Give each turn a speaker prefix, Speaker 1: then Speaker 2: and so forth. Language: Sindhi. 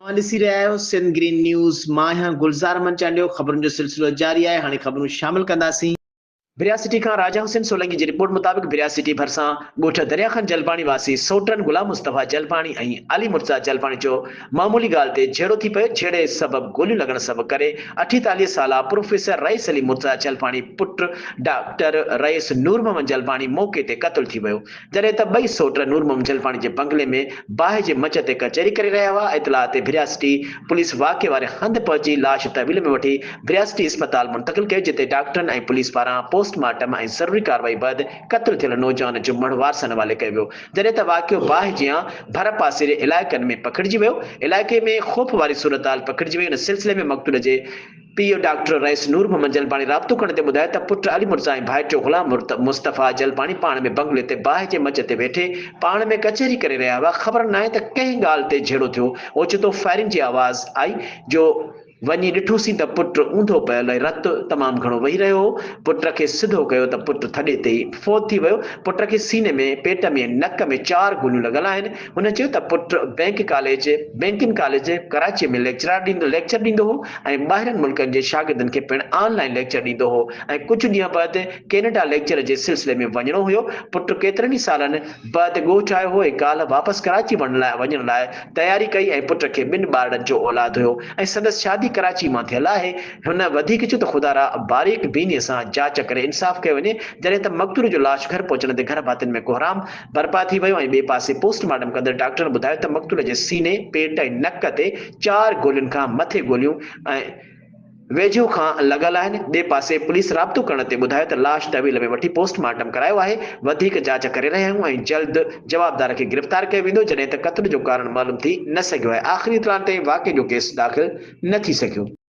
Speaker 1: اوهان ڏسي رهيا آهيو سنڌ گرين نيوز مان آهيان گلزار احمد چانڊيو خبرن جو سلسلو جاري آهي هاڻي خبرون شامل ڪنداسين. بريا سٽي کان راجا حسين سولنگي جي رپورٽ مطابق بريا سٽي ڀرسان ڳوٺ دريا خان جلباڻي واسي سوٽرن غلام مصطفيٰ جلباڻي ۽ علي مرتضيٰ جلباڻي جو معمولي ڳالهه تي جهيڙو ٿي پيو جهيڙي سبب گوليون لڳڻ سبب ڪري اٺيتاليهه سالا پروفيسر رئيس علي مرتضيٰ جلباڻي پٽ ڊاڪٽر رئيس نورمحمد جلباڻي موقعي تي قتل ٿي ويو جڏهن ته ٻئي سوٽ نور محمد جلپاڻي جي بنگلي ۾ باهه جي مچ تي ڪچهري ڪري رهيا هئا، اطلاع تي ڀرياسٽي پوليس واقعي واري هنڌ پهچي لاش تحويل ۾ وٺي ڀرياسٽي اسپتال منتقل ڪيو جتي ڊاڪٽرن ۽ پوليس پاران پوسٽ مارٽم ۽ ضروري ڪارروائي بعد قتل ٿيل نوجوان جو مڙهه وارثن حوالي ڪيو ويو جڏهن ته واقعو باهه جيان ڀرپاسيري علائقن ۾ پکڙجي ويو علائقي ۾ خوف واري صورتحال پکڙجي وئي ان سلسلي ۾ مقتول جي پيء ڊاڪٽر رئيس نور محمد جلباڻي رابطو ڪندي ٻڌايو ته پٽ علي مرزا ۽ ڀائٽيو غلام مصطفيٰ جلباڻي پاڻ ۾ بنگلي تي باهه جي مچ تي ويٺي پاڻ ۾ ڪچهري ڪري رهيا هئا خبر ناهي ته ڪنهن ڳالهه تي جهيڙو ٿيو اوچتو فائرنگ جي آواز آئي جو وڃي ڏٺوسين ته پٽ اونڌو پيل ۽ رت تمام گهڻو وهي رهيو هو پٽ کي سڌو ڪيو ته پٽ ٿڏي تي ئي فوت ٿي ويو پٽ کي سيني ۾پيٽ ۾۽ نڪ ۾ چار گوليون لڳل آهن هن چيو ته پٽ bank college, Banking College، Karachi ۾ lecture ڏيندو هو ۽ ٻاهرين ملڪن جي شاگردن کي پڻ آن لائين ليڪچر ڏيندو هو ۽ ڪجهه ڏينهن بعد ڪينيڊا ليڪچر جي سلسلي ۾ وڃڻو هيو، پٽ ڪيترن ئي سالن بعد ڳوٺ آيو هو ۽ ڪالهه واپس ڪراچي وڃڻ لاء تياري ڪئي ۽ پٽ کي ٻن ٻارڙن جو اولاد هيو ۽ سندس شادي ڪراچي مان ٿيل آهي، هن وڌيڪ چيو ته خدا را باريڪ بيني سان جاچ ڪري انصاف ڪيو وڃي، جڏهن ته مقتول جو لاش گهر پهچڻ تي گهر ڀاتين ۾ ڪهرام. برپا ٿي ويو ۽ ٻئي پاسي پوسٽ مارٽم ڪندڙ ڊاڪٽرن ٻڌايو ته مقتول جي سيني، پيٽ ۽ نڪ تي چار گولين کان مٿي گوليون ۽ ويجهو کان لڳل آهن، ٻئي پاسي پوليس رابطو ڪرڻ تي ٻڌايو ته لاش تحويل ۾ وٺي پوسٽ مارٽم ڪرايو آهي، وڌيڪ جاچ ڪري رهيا آهيون ۽ جلد جوابدار کي گرفتار ڪيو ويندو جڏهن ته قتل جو ڪارڻ معلوم ٿي نه سگهيو آهي، آخري اطلاعن تائين واقعي جو ڪيس داخل نه ٿي سگهيو.